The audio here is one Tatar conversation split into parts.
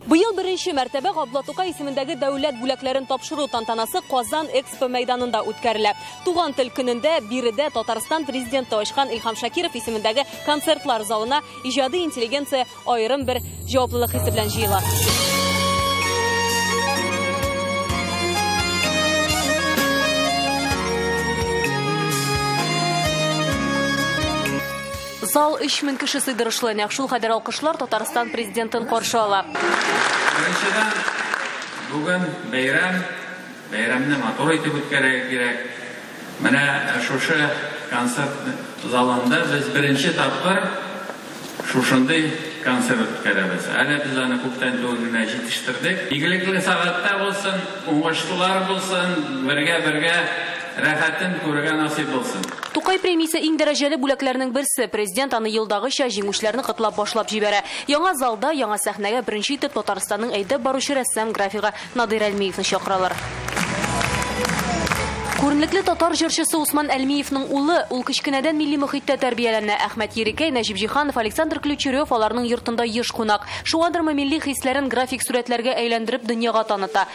Быел беренче мәртәбә Габдулла Тукай исемендәге дәүләт бүләкләрен тапшыру тантанасы Казан Экспо мәйданында үткәрелә. Туган тел көнендә биредә Татарстан президенты ачкан Илһам Шакиров исемендәге концертлар залына иҗади интеллигенция аерым бер җаваплылык хисе белән җыела. Зал 3000 кеше сыйдырышлы, нәкъ шул кадәр алкышлар Татарстан президентын каршы ала. Беренчедән, бүген бәйрәм, бәйрәмне матур итеп үткәрергә кирәк. Менә шушы концерт залында без беренче тапкыр шушындый концерт үткәрәбез. Әле без аны күптән түгел генә җитештердек. Игелекле сәгатьтә булсын, уңышлар булсын, бергә-бергә Рәхәтен күрергә насыйп булсын. Тукай премиясе иң дәрәҗәле бүләкләрнең берсе. Президент аны елдагыча, җиңүчеләрне котлап башлап җибәрә. Яңа залда, яңа сәхнәгә беренче итеп Татарстанның әйдәп баручы рәссам графигы Надыйр Әлмиевны чакыралар. Күренекле татар җырчысы Усман Әлмиевның улы. Ул кечкенәдән милли мохиттә тәрбияләнә. Әхмәт Ерикәй, Нәҗип Җиһанов, Александр Ключерев аларның йортында еш кунак. Шуңадырмы, милли хисләрен график сурәтләргә әйләндереп дөньяга таныта.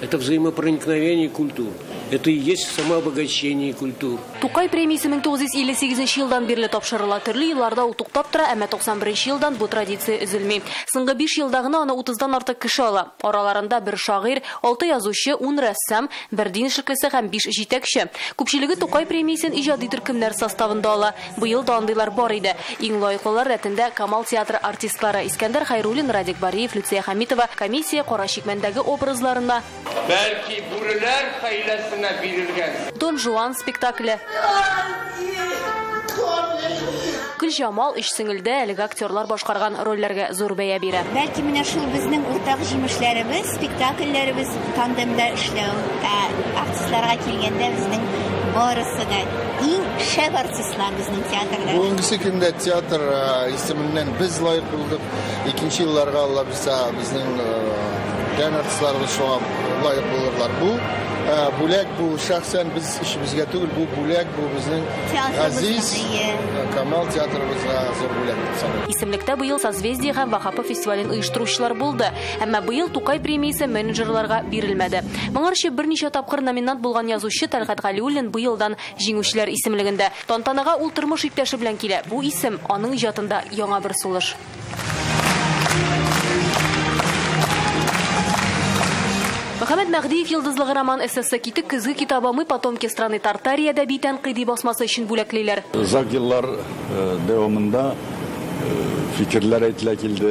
Это взаимопроникновение культур. Это и есть самообогащение культур. Тукай премиясе 1958 елдан бирле тапшырыла. Төрле елларда ул туктап тора, әмма 91 елдан бу традиция өзелми. Соңгы 5 елда гына аны 30-дан артык кеше ала. Араларында бер шагыйрь, 6 язучы, 10 рәссам, бер дин эшлеклесе һәм 5 җитәкче. Күпчелеге Тукай премиясен иҗади төркемнәр составында ала. Быел да андыйлар бар иде. Иң лаеклылар рәтендә Камал театры артистлары, Искәндәр Хәйруллин, Радик Бариев, Люция Хәмитова, комиссия Кара чикмәндәге образларына, Бәлки, бүреләр хәйләсенә бирелгән. Дон Жуан спектакле. Гөлҗамал, Өч сеңелдә әлеге актерлар башкарган рольләргә зур бәя бирә. Бәлки, менә шул безнең уртак җимешләребез. Спектакльләребез тандемда эшләү, ә артистларга килгәндә, безнең барысы да иң шәп артистлар безнең театрда. Бүгенгесе көндә театр э, исеменнән без лаек булдык. Икенче елларга Алла бирсә, безнең э, дән артистларыбыз шуңа лаек булырлар. Бу э, бүләк, бу шәхсән без эшебезгә түгел, бу бүләк, бу безнең газиз Камал театрыбызга зур бүләк дип саныйм. Исемлектә быел Созвездие һәм Вахапы фестивален оештыручылар булды. Әмма быел Тукай премиясе менеджерларга бирелмәде. Моңарчы берничә тапкыр номинант булган язучы Тәлгать Галиуллин быелдан җиңүчеләр исемлегендә. Тантанага ул тормыш иптәше белән килә. Бу исем, аның иҗатында яңа бер сулыш. Мөхәммәт Мәһдиев йолдызлыгы роман-эссесы Китек көзге китабы Мы потомки страны Тартарии әдәби тәнкыйди басмасы өчен бүләклиләр. Озак еллар дәвамында фикерләр әйтелә килде.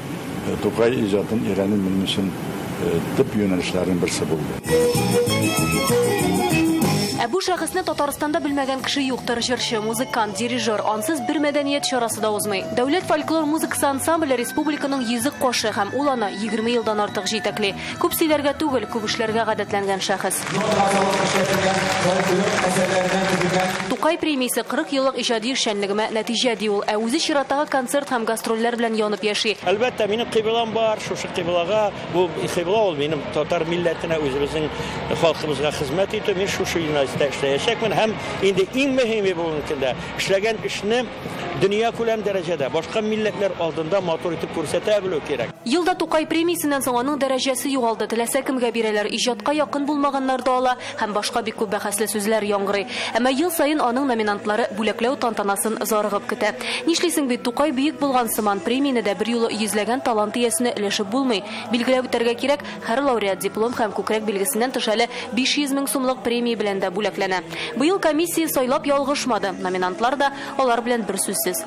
Тукай иҗатын өйрәнү минем өчен төп юнәлешләрнең берсе булды. Ә бу шәхесне Татарстанда белмәгән кеше юктыр, җырчы, музыкант, дирижер, ансыз бер мәдәният чарасы да узмый. Дәүләт фольклор музыкасы ансамбле республиканың йөзек кошы һәм ул аны 20 елдан артык җитәкли. Күп сөйләргә түгел, күп эшләргә гадәтләнгән шәхес. Тукай премиясе 40 еллык иҗади эшчәнлегемә нәтиҗә, ди ул. Ә үзе чираттагы концерт һәм гастрольләр белән янып яши. Әлбәттә, минем кыйблам бар, шушы кыйблага. Бу кыйбла ул минем татар милләтенә, үзебезнең халкыбызга хезмәт итү. Мин шушы юнәлештә эшләячәкмен һәм инде иң мөһиме бүгенге көндә, эшләгән эшне дөньякүләм дәрәҗәдә, башка милләтләр алдында матур итеп күрсәтә белү кирәк. Ел да Тукай премиясеннән соң аның дәрәҗәсе югалды, теләсә кемгә бирәләр, иҗатка якын булмаганнар да ала һәм башка бик күп бәхәсле сүзләр яңгырый. Әмма ел саен аның номинантлары бүләкләү тантанасын зарыгып көтә. Нишлисең бит, Тукай бөек булган сыман, премияне дә берьюлы йөзләгән талант иясенә өләшеп булмый. Билгеләп үтәргә кирәк, һәр лауреат диплом һәм күкрәк билгесеннән тыш әле 500 мең сумлык премия белән дә бүләкләнә. Быел комиссия сайлап ялгышмады, номинантлар да алар белән берсүзсез.